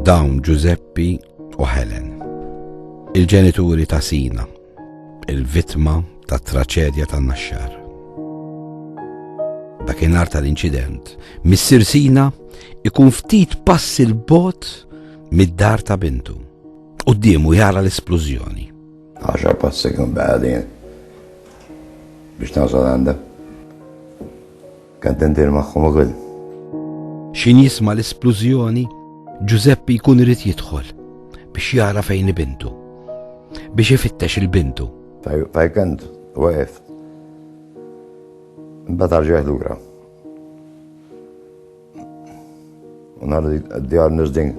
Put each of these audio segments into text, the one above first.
Dawn Ġużeppi u Helen, il-ġenituri ta' Sina, il-vittma tat traċedja tan naxxar. Dakinhar tal-inċident, Missir Sina ikun ftit pass il-bot mid-dar ta' bintu. U d-diemu jara l-esplużjoni. Għaxa passi kun bħadin biex nasal għanda. Kont indir magħhom ukoll. X'ħin jisma' l-isplużjoni, Ġużeppi jkun irid jidħol biex jara fejn hi bintu. Biex ifittex il-bintu. Fajkant, waqef. Imbagħad arġaħ lura. Nhar djar nirdin.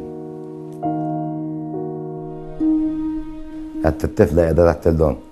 Għat t-tifla jgħadha taħt il-don.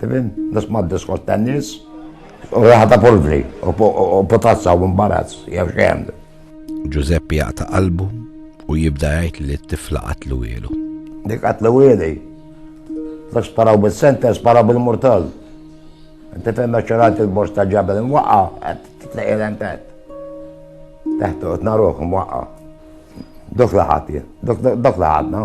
Tifhem? Biex ma diskors tan-nies. U raħata polvri, u potazza u imbarazz, jew xejn. Ġużeppi jaqta' qalbu u jibda jgħid li t-tifla qatlu ielu. Dik qatlu ieli. Dak sparaw bil-sentence, sparaw bil-murtal. Inti fejn meċċerat il-bors ta' ġabel imwaqqa, qed titleqi l-empet. Teħtu qed naruh imwaqqa. Dok laħat, dok laħatna.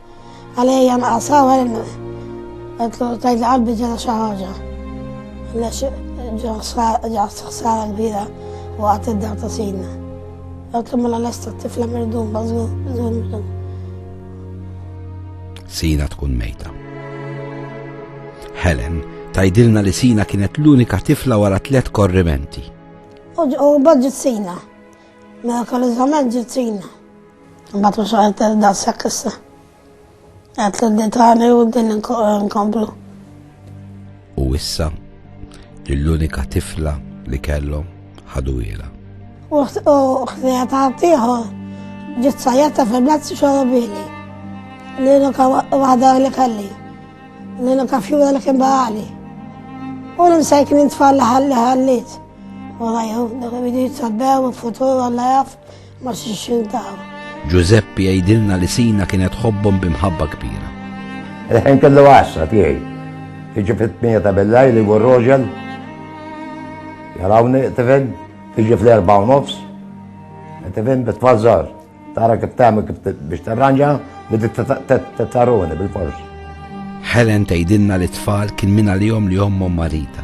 Għalija jan qasaw għalin għetlu tajt qalbi ġena xaħġa. Lex ġaħs xsara l-bira u għat id-dar ta' sina. Għetlu mela l-esta tifla mirdum bazgu mirdum. Sina tkun mejta. Helen tajdilna li Sina kienet l-unika tifla wara tlet korrimenti. U bħadġet Sina. Mirakoliżament ġiet fina. Imbagħad mhux qed daqshekk issa. Qed l tani u din inkomplu. U issa l-unika tifla li kellhom ħadu ila. U ħtija ta' tiħu ġiet sajjata fil-mezz xorobili. L-unika waħda li kelli. L-unika fjura li kien barali. U l-imsejkin intfall ħalli ħallit. Wara jħuf dak il-bidit sabbew il-futur għalla jaf ma xixin taħu. Giuseppe jgħidilna li sina kienet ħobbhom bimħabba kbira. Reħen kellu għassa tiegħi. Tiġi fit-tmija ta' bellaj li gur roġel. Jarawni tifhem, tiġi fl-erba' u nofs. Tifhem bitfazzar. Tara kif tagħmel kif biex tarranġa li tittaruni bil-fors. Helen tgħidilna li t-tfal kien minn għalihom li ommhom marita.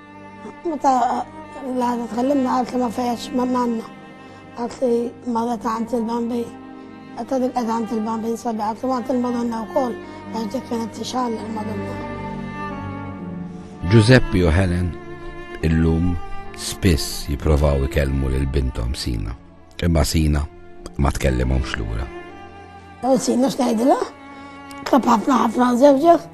Meta l-għada tkellimna għalt li ma fejax ma nanna. Għalt li ma għet għant il-bambi. Għet għadik għet għant il-bambi nsabi għalt li ma għant il-madonna u koll. Għax dik kienet t-xall il-madonna. Giuseppe u Helen illum spiss jiprovaw ikellmu lil bintom Sina. Imma Sina ma tkellimhomx lura. U Sina x'tgħidilha? Kap ħafna ħafna żewġek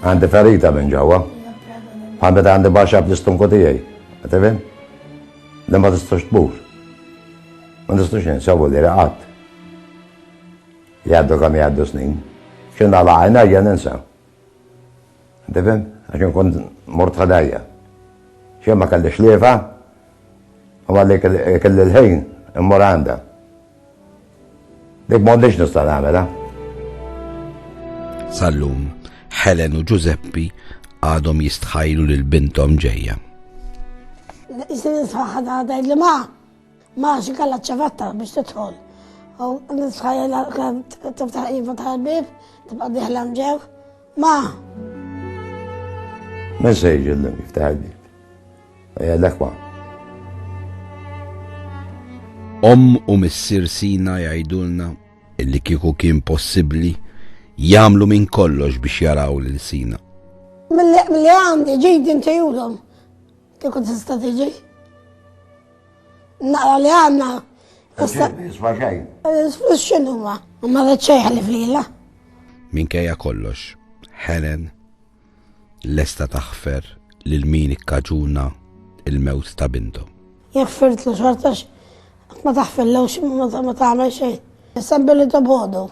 Għandi ferita minn ġewwa. Bħal meta għandi baxxa fl-istunku tiegħi. Tifhem? Li ma tistax tmur. Ma tistax insabu li raqat. Jgħaddu kam jgħaddu snin. X'in għala għajna jgħan ninsa. Tifhem? Għax nkun mort ħadajja. X'in ma kellix liefa, u għalli kelli l-ħin immur għandha. Dik m'għodniex nista' nagħmilha. Sal-lum, Helen u Giuseppe għadhom jistħajlu lil bintom ġejja. Iżda nisħaħ għadha li ma' ma' xi kellha ċevatta biex tidħol. U nisħajl kemm tiftaħ iva tal-bib, tibqa' diħla mġew. Ma' Message jiftaħ il-bib. Eh, l-ekwa. Om u missir Sina jgħidulna illi kieku kien possibbli jagħmlu minn kollox biex jaraw lil Sina. Mill-li għandi ġid inti julhom kieku tista' tiġi. Naqra li għandna. Isma' xejn. Flus x'inhuma, ma rid xejn ħalli flila. Minkejja kollox, Helen lesta taħfer lil min ikkaġuna l-mewt ta' binthom. Jekk firtlu xorta qatt ma taħfirlux ma tagħmel xejn. Issa billi tobgħodu.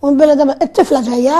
U billi it-tifla ġejja.